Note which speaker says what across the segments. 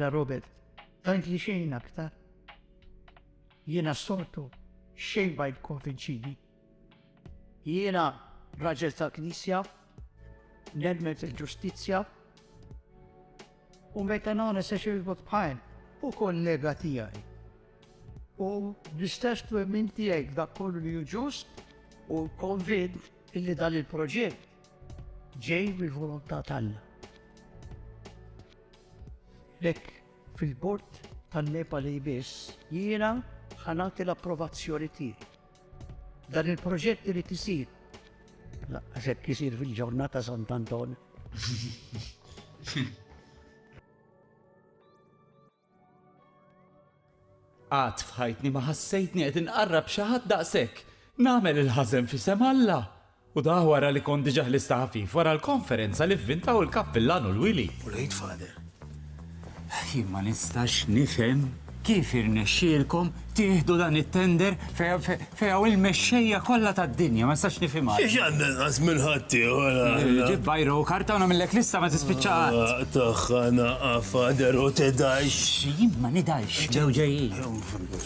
Speaker 1: Ara Robert, tant li xejn aktar. Jiena s-soltu xejn ma jikkonvinċini. Jiena raġel tal-Knisja, nemmen fil-ġustizzja, u meta nagħna se xirbu tqajn u kollega tiegħi. U l-istess twemmin tiegħi dak kollu li ġust u konvint illi dan il-proġett ġej mill-volontà tagħna. Lek fil-bord tan-Nepali biss jiena ħanati l-approvazzjoni tiegħi. Dan il-proġett irid isir. Laqqas hekk isir fil-ġurnata Sant Anton. Għad f'ħajtni ma ħassejtni qed inqarrab xi ħadd daqshekk. Nagħmel il-ħażen f'isem Alla. U dah wara li kont diġa ħlista ħafif wara l-konferenza li vvintaw il-kappillan u l-wili. U l-Għid Father. Jien ma nistax nifhem kif irnexxielkom tieħdu dan it-tender fejn hawn il-mexxejja kollha tad-dinja, ma nistax nifhimha. Xiex għandna nqas minn ħaddieħor aħna? Ġib bajro u karta u nagħmillek lista ma tispiċċa qatt. Aq tagħha naqa' Father u tidgħix. Jien ma nidgħix, ġew ġejjin.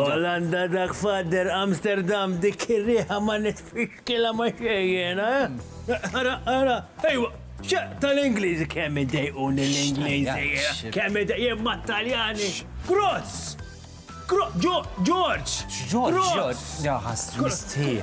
Speaker 1: Olanda dak fader Amsterdam dik ir-riħa ma nitfixkilha ma' xejn jiena, eh? Ara, ara, ejwa, tal-Ingliżi kemm idejquni l-Ingliżi, kemm idejquni ma' Taljani. Gross! George! George! George! Jaħas, mistier.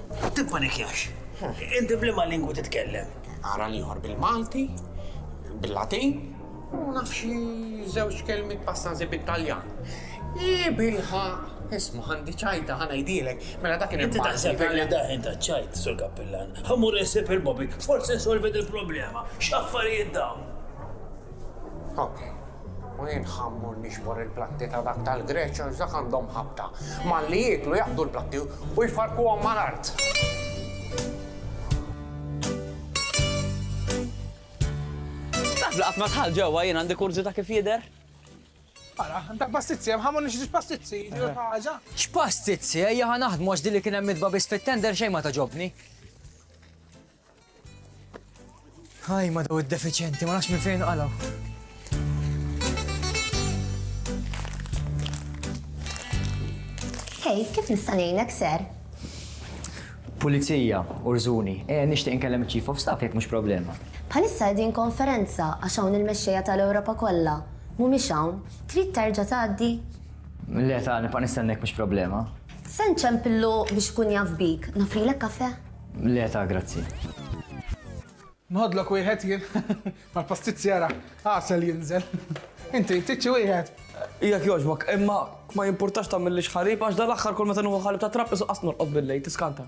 Speaker 1: U tippanikjax. Inti b'liema lingwa titkellem? Ara l-ieħor bil-Malti, bil-Latin, u naf xi żewġ kelmiet passanżi bit-Taljan. Ii bilħaq, isma' għandi ċajta ħa ngħidilek, mela dak kien Inti taħseb li daħin ta' ċajt, Sur Kappillan. Ħammur insib il-Bobby, forsi nsolvi il-problema. X'affarijiet dawn! U jien ħammur nixbor il-platti ta' dak tal-Greċ għax dak għandhom ħabta. Malli jieklu jaqbdu l-platti u jfarkuhom mal-art. Taf li qatt ma dħalt ġewwa jien għandi kurżità kif jidher? Ara, dak pastizzi, hemm ħamu nixtiex pastizzi, ġiet ħaġa. X'pastizzi, ejja ħa naħdmu għax din li kien hemm mitba biss fit-tender xejn ma togħġobni. Ħaj ma daw id-defiċenti, ma nafx minn fejn qalgħu. Hej, kif nista' ngħinek ser? Pulizija, urżuni, e nixtieq inkellem il-Chief of Staff jekk mhux problema. Bħalissa din konferenza għax hawn il-mexxejja tal-Ewropa kollha. Mhumiex hawn. Trid terġa' tgħaddi? Le ta' nibqa' nistennek mhux problema. Se nċempillu biex ikun jaf bik. Nofrilek kafe? Le ta' grazzi. Nħodlok wieħed jien. Mal-pastizzjera, għasel jinżel. Inti, tiċċi wieħed. Jekk jogħġbok, imma ma jimpurtax tagħmillix ħalib għax dal-aħħar kull meta nuħu ħalib ta' trapp isu qas norqod billej, tiskanta.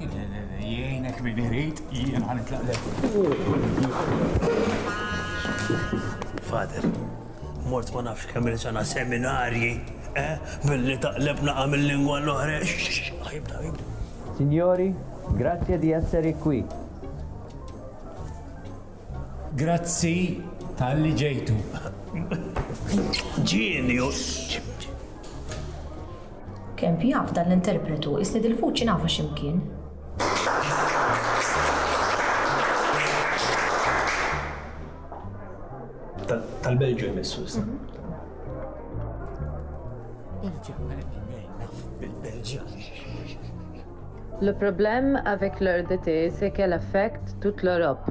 Speaker 1: Jgħinek min irid, jien ħan itlaqlek. Fader, mort ma nafx kemm il-sena seminarji, eh? Billi taqleb naqa mill-lingwa l-oħra. Jibda, jibda. Signori, grazie di essere qui. Grazzi tal-li ġejtu. Genius! Kemp jaf dan l-interpretu isni dil-vuċi nafha xi mkien. Tal-Belġu jmissu issa. Le problème avec leur DT, c'est qu'elle affecte toute l'Europe.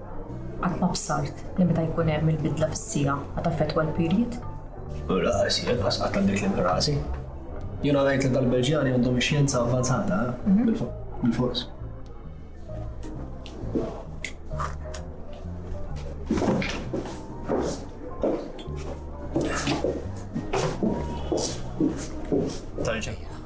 Speaker 1: Qatt ma bsart li meta jkun hemm il-bidla fis-siegħa qed affettwa l-period. Rasi, qas qatt għandek li minn rasi. Jiena ngħid li dal-Belġjani għandhom ix-xjenza avvanzata eh? mhm. bil-fors. Tal-ġejja.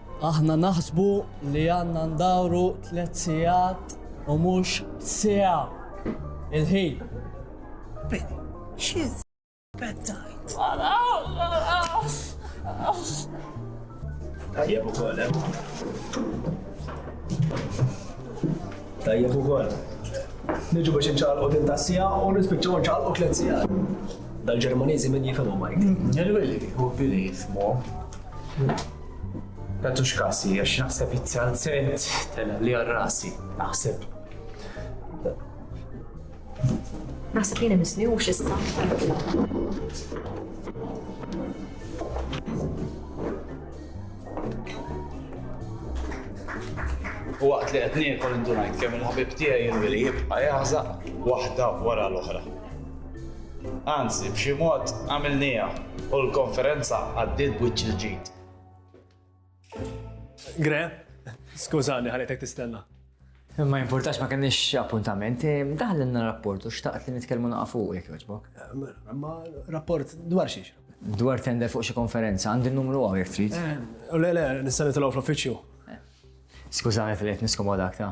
Speaker 1: Aħna naħsbu li għandna ndawru tliet sigħat u mhux siegħa il-ħin. Bini, xi żbettajt? Tajjeb ukoll, eh? Tajjeb ukoll. Niġu biex inċaqalqu din ta' sija u nispiċċaw inċaqalqu tliet sija. Dal-Ġermaniżi min jifhmu Mike. Ġerweli, u bili jifhmu. Tatux kasi, għax naħseb it-salzent tela li għal rasi, naħseb. Naħseb jina misni u xista. U waqt li qed niekol indunajt kemm il-ħabib tiegħi jinvili jibqa' jaħżaq waħda wara l-oħra. Anzi, b'xi mod għamilniha u l-konferenza għaddiet b'wiċċ il-ġid. Gre, skużani ħalejtek tistenna. Ma jimpurtax ma kenniex appuntament, eh, daħlilna rapport u xtaqt li nitkellmu naqa' fuq jekk jogħġbok. Eh, ma rapport dwar xiex? Dwar tender fuq xi konferenza, għandi n-numru għaw jek trid. Eh, le, le, nista' nitilgħu fl-uffiċċju. Skużani tal-qed niskomodak ta'.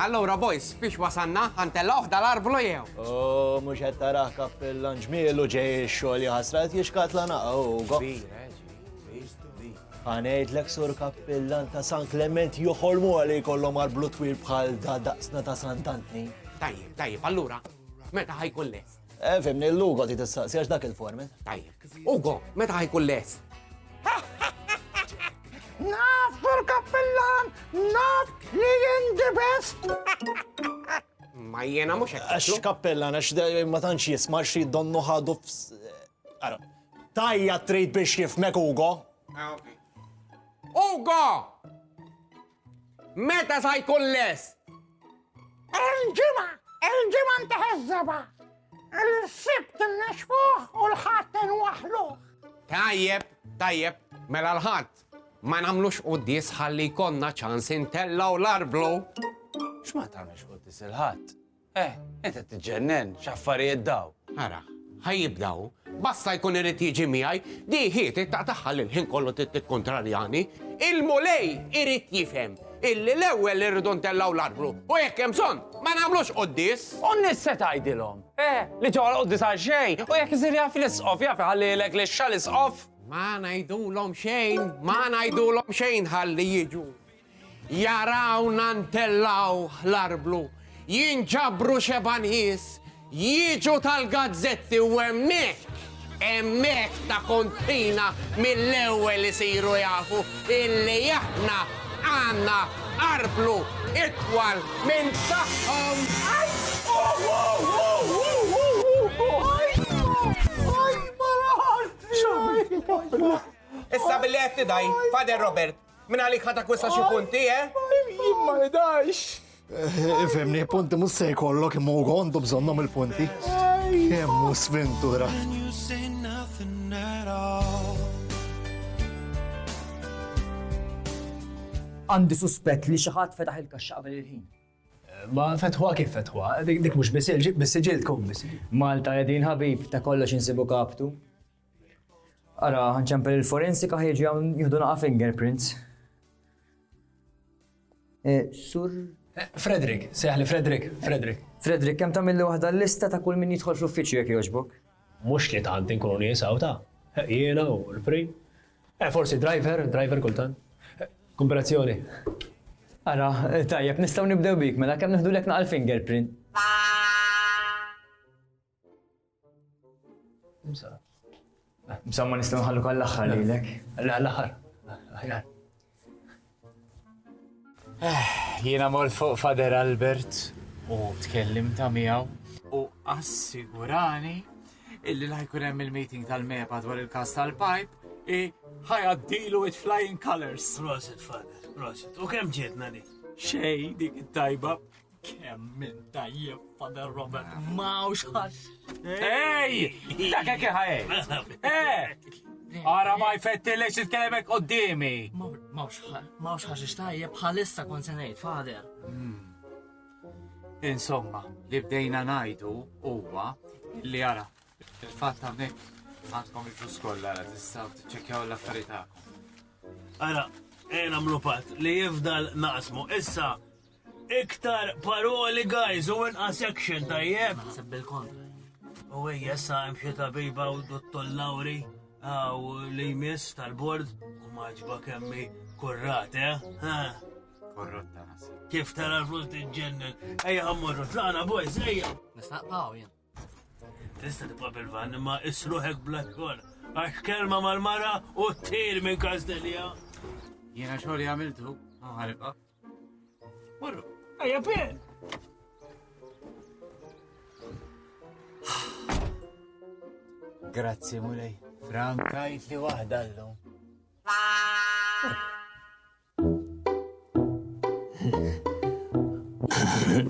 Speaker 1: Allura boys, fiex wasanna, ħantellawh dal-arvlu jew? Oh, mhux qed tarah kappillan ġmielu ġej ix-xogħol jaħasrat jixkat la naqa' Ugo. Ħanejdlek sur kappillan ta' San Klement joħolmu għalli jkollhom arblu twil bħal da daqsna ta' Sant'Antni. Tajjeb, tajjeb, allura, meta ħajkun lest? Eh, fimni, l-Ugo ti tistaqsi għax dak il-format. Tajjeb. Ugo, meta ħajkun les? Naf, Sur Kappellan, naf li jindi best. Ma jena mux hekk. Għax Kappellan, għax ma tantx jisma' xi donnu ħadu Ara, tajja trid biex jifmek Ugo. Ah, Ugo! Meta sa jkun lest? Il-ġimgħa, il-ġimgħa nteħeżżebha. Il-sibt innexfuh u l-ħadd inwaħluh. Tajjeb, tajjeb, mela l-ħadd. Ma nagħmlux quddies ħalli jkollna ċans intellgħu l-arblu. X'ma tagħmilx quddies il-ħadd? Eh, int qed tiġġennen, x'affarijiet dawn! Ara, ħa jibda hu. Basta jkun irid jiġi miegħi, di hi tittaq tagħha li l-ħin kollu trid tikkuntrarjani. Il-Mulej irid jifhem illi l-ewwel irridu ntellgħu l-arblu u jekk hemm bżonn ma nagħmlux quddies. U n-nies se tgħidilhom, eh, li ġew għall-quddies għal xejn, u jekk isir jaf l-Isqof, jaf iħallilek lix-xagħal Isqof. Ma ngħidulhom xejn, ma ngħidulhom xejn ħalli jiġu. Jarawna ntellgħu l-arblu, jinġabru xebgħa nies, jiġu tal-gazzetti u hemmhekk, hemmhekk ta' kontrina mill-ewwel isiru jafu illi aħna għandna arblu itwal minn tagħhom. Issa billi qed tidgħi, Father Robert, Minn għalik ħa takwista xi punti, eh? Jien ma nidajx. Ifemni, punti mus se jkollok imma u għondu bżonnom il-punti. Kemm hu sventura. Għandi suspett li xi ħadd fetaħ il-kaxxa qabel il-ħin. Ma fetħwa kif fetħwa, dik mhux biss ġib biss ġil tkun biss. Malta qegħdin ħabib ta' kollox insibu kaptu. Ara, ċempel il-forensika ħieġi għawn jihdu naqa fingerprints. E, sur. E, Frederick, seħli Frederick, Frederick. Frederick, kem tamilli wahda l-lista ta' kull min jidħol fl-uffiċju jek joġbok? Mux li tant inkunu nisaw ta' e, jiena u l-prim. Eh, forsi driver, driver kultan. Eh, Komparazzjoni. Ara, eh, tajjeb, nistaw nibdew bik, mela kemm nħdu lek naqal fingerprint. Msamma nistgħu nħallu għall-aħħar lilek. Għall-aħħar. Aħjar. Eh, jiena mor fuq Fader Albert u tkellim ta' miegħu u assigurani illi la jkun hemm il-meeting tal-MEPA dwar il-kas tal-pipe i ħajaddilu with flying colors. Prosit, Fader, prosit. U kemm ġietna di? Xej, dik it-tajba. Kemm minn tajjeb, Father Robert, mawx ħax. Ej! Dak hekk ħajt! Eh! Ara ma jfettilek xi tkellmek qudiemi. Mawx ħax tajjeb bħalissa kon se ngħid, Father. Hmm. Insomma, li bdejna ngħidu huwa li ara il-fatt hawnhekk għandkom il-flus kollha tistgħu tiċċekkjaw l-affarijiet tagħkom. Ara, ejna mlupat li jifdal naqsmu issa Iktar paroli guys u inqas action tajjeb. Naħseb bil-kontra. U ejja sa hemm xi tabiba u dottor Lauri għaw li jmiss tal-bord u maġba kemmi kurrat, eh? Kurrat ta' naħseb. Kif tara l-flus tiġġennen? Ejja ħammurru, tlaqna boys, ejja! Nistaqbaw jien. Tista' tibqa' bil-van imma isruħek bla xogħol. Għax kelma mal-mara u t-tir minn Kastelja. Jiena xogħol jagħmiltu, ħaribqa'. Marru, ejja Ben! Grazzi, mulej. Frankajt li wahda l-lum.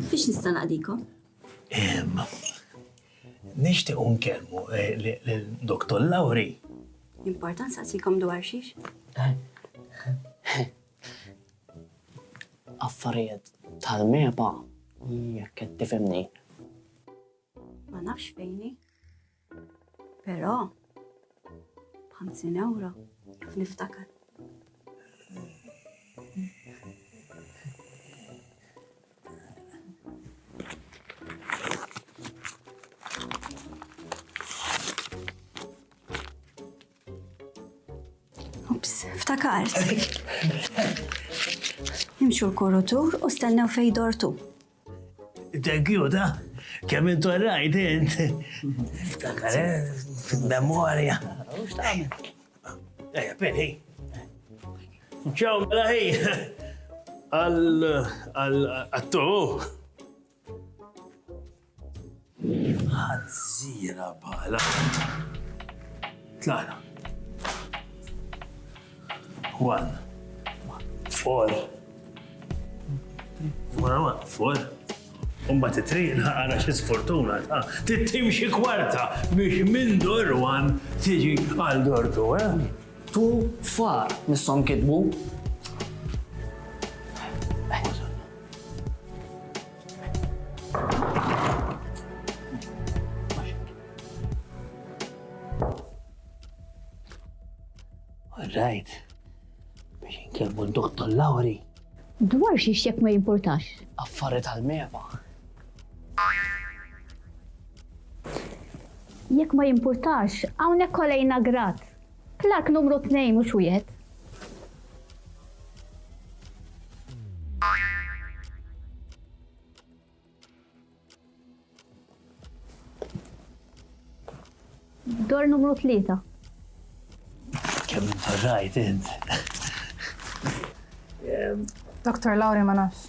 Speaker 1: Fiex nista' naqdikom? Nixtieq unkellmu eh, l-Doktor Lawri. Importanza sikom dwar xiex? Affarijiet tal-meba jekk qed tifhimni. Ma nafx fejn hi. Però 50 ewro jaf niftakar. Ups, ftakart. Imxu l-kurutur u stennew fej dortu. Thank you, da. Kemm intu rajt int. Ftakar, eh, fil-memorja. Ejja, penny. Ċaw, mela ħi. Għal-attu. Ħanżira bħala. Tlaqna. One. Four. Wara one. Four. Umba titriq naqara xi sfortuna ta' tittim xi kwarta biex minn dor one tiġi għal dor tu, eh? Tu far nissom kitbu. Rajt, biex inkellmu d-doktor Lawri. Dwar xiex jekk ma jimportax. Affariet għal-meba. Jekk ma jimportax, hawnhekk kolejna grat. Plakk numru tnejn mhux wieħed. Dor numru tlieta. Kemm intarrajt int. Dr. Lauri ma nafx.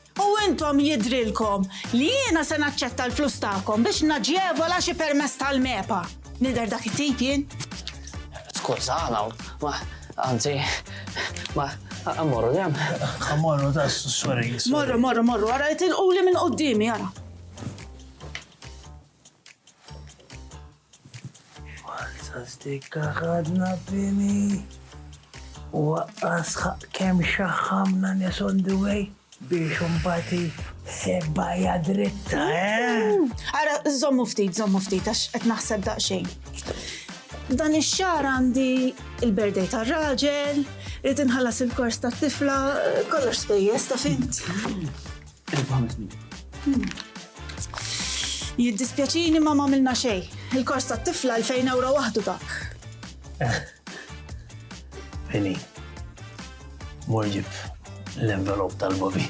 Speaker 1: U intom jidhrilkom li jiena se naċċetta l-flus tagħkom biex naġevola xi permess tal-MEPA? Nidher dak it-tip jien? Skużana, ma anzi ma ammorru dem. Ammorru da sorry. Morru, morru, morru, ara jitilquli minn qudiemi, ara. Walza stikka ħadna bini. U waqqas kem xaħħamna nes on the way biex umbati sebba jadritta, eh? Ara, zommu ftit, zommu ftit, għax qed naħseb daqxejn. Dan ix-xar għandi il-berdej tar-raġel, rrid inħallas il-kors tat-tifla, kollox spejjeż ta' fint. Fhimtni. Jiddispjaċini ma m'għamilna xejn. Il-kors tat-tifla 2000 ewro waħdu dak. Fini. Morġib l-envelop tal-bobi.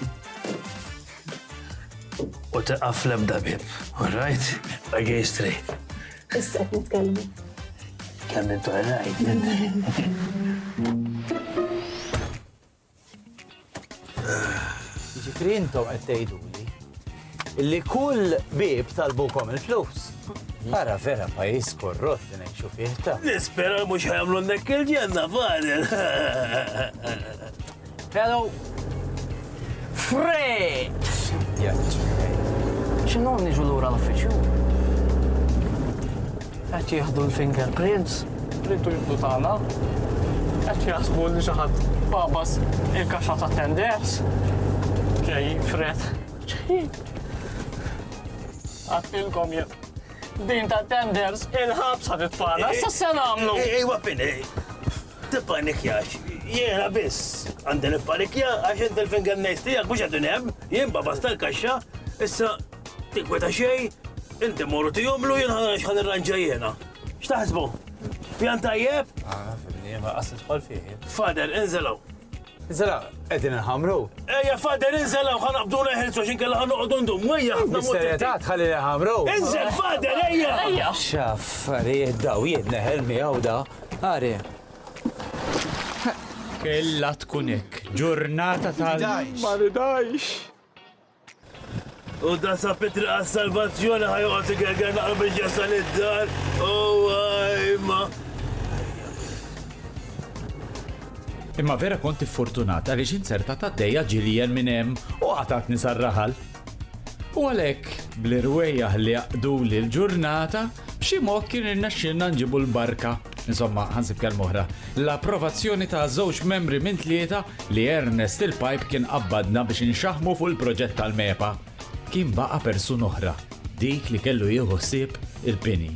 Speaker 1: U teqaf l-ebda bib. All right? I gay straight. Issa qed nitkellmu. Kemm intu għarajt. Ġifri intom qed tgħiduli li kull bib talbukom il-flus. Ara vera pajis korrot li ngħixu fih ta'. Nispera mhux ħajamlu nek il-ġenna fadel. Hello. Fred! X'inhu niġu lura l-uffiċċju? Qed jieħdu l-finger prints. Rridu jibdu tagħna. Qed jaħsbu li xi ħadd babas il-kaxxa ta' tenders. Ġej fred. Għattilkom jien. Din ta' tenders il-ħabs ħad itfana. Sa se nagħmlu. Ej, ej, waqfin, ej. Tippanikjax, jiena biss għandi nippanikja għax int il-finger nails tiegħek mhux qegħdin hemm, jien babas tal-kaxxa, issa tinkweta xejn, inti mur u tihomlu jien ħa nara x'ħa nirranġa jiena. X'taħsbu? Pjan tajjeb? Ah, fimni, ma qas tidħol fih. Father, inżel hawn. Zara, qegħdin inħamru. Ejja fader inżel hawn ħa naqbdu neħilsu għax inkella ħa noqogħdu ndum wejja ħafna mod. Serjetà tħalli li ħamru. Inżel fader ejja! Ejja! X'affarijiet daw jien neħel miegħu da. Ari. Kella tkun hekk. Ġurnata tal. Ma ridajx. U dan sab it-triq għas-salvazzjoni, ħa joqgħod igerger naqra biex jasal id-dar. Ewwa, imma. Imma vera kont iffortunat għaliex inzertat għaddejja ġiljen minn hemm u qatatni sar-raħal. U għalhekk, bl-irwejjaħ li jaqduli l-ġurnata, b'xi mod kien irnexxielna nġibu l-barka Insomma, ħa nsib kelma oħra, l-approvazzjoni ta' żewġ membri minn tlieta li Ernest il-Pipe kien qabbadna biex inxaħmu fuq il-proġett tal-MEPA. Kien baqa' persuna oħra, dik li kellu jieħu ħsieb il-bini.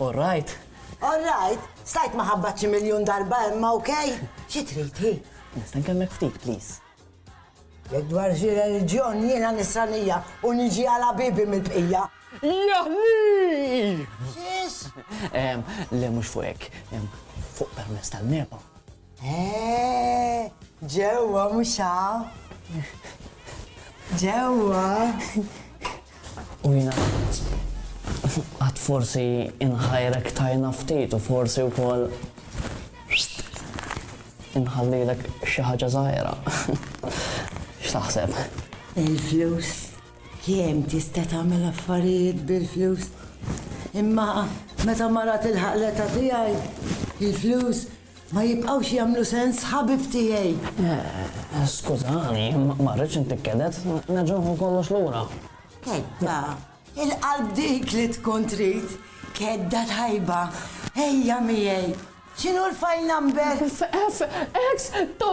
Speaker 1: All right. All right. Stajt maħabbat xi miljun darba imma okej. Xi trid hi? Nista' nkemmek ftit, please. Jekk dwar xi reliġjon jiena nisranija u niġi għal ħabibi mill-bqija. Jaħlii! X'is? Ehm, le mhux fuq hekk, ehm, fuq permess tal-meba. Eh, ġewwa mhux hawn. Ġewwa. U jiena għad, għad forsi inħajrek tajna ftit u forsi wkoll inħallilek xi ħaġa żgħira. X'taħseb? Il-flus kemm tista' tagħmel affarijiet bil-flus. Imma meta mara tilħaq l-età tiegħi, il-flus Ma jibqgħux jagħmlu sens ħabib tiegħi. Skużani, ma rridx intik kedet, nerġa' nħu kollox lura. Kedda, il-qalb dik li tkun trid. Kedda tajba, ejja miegħi. X'inhu l-file number? FX, to,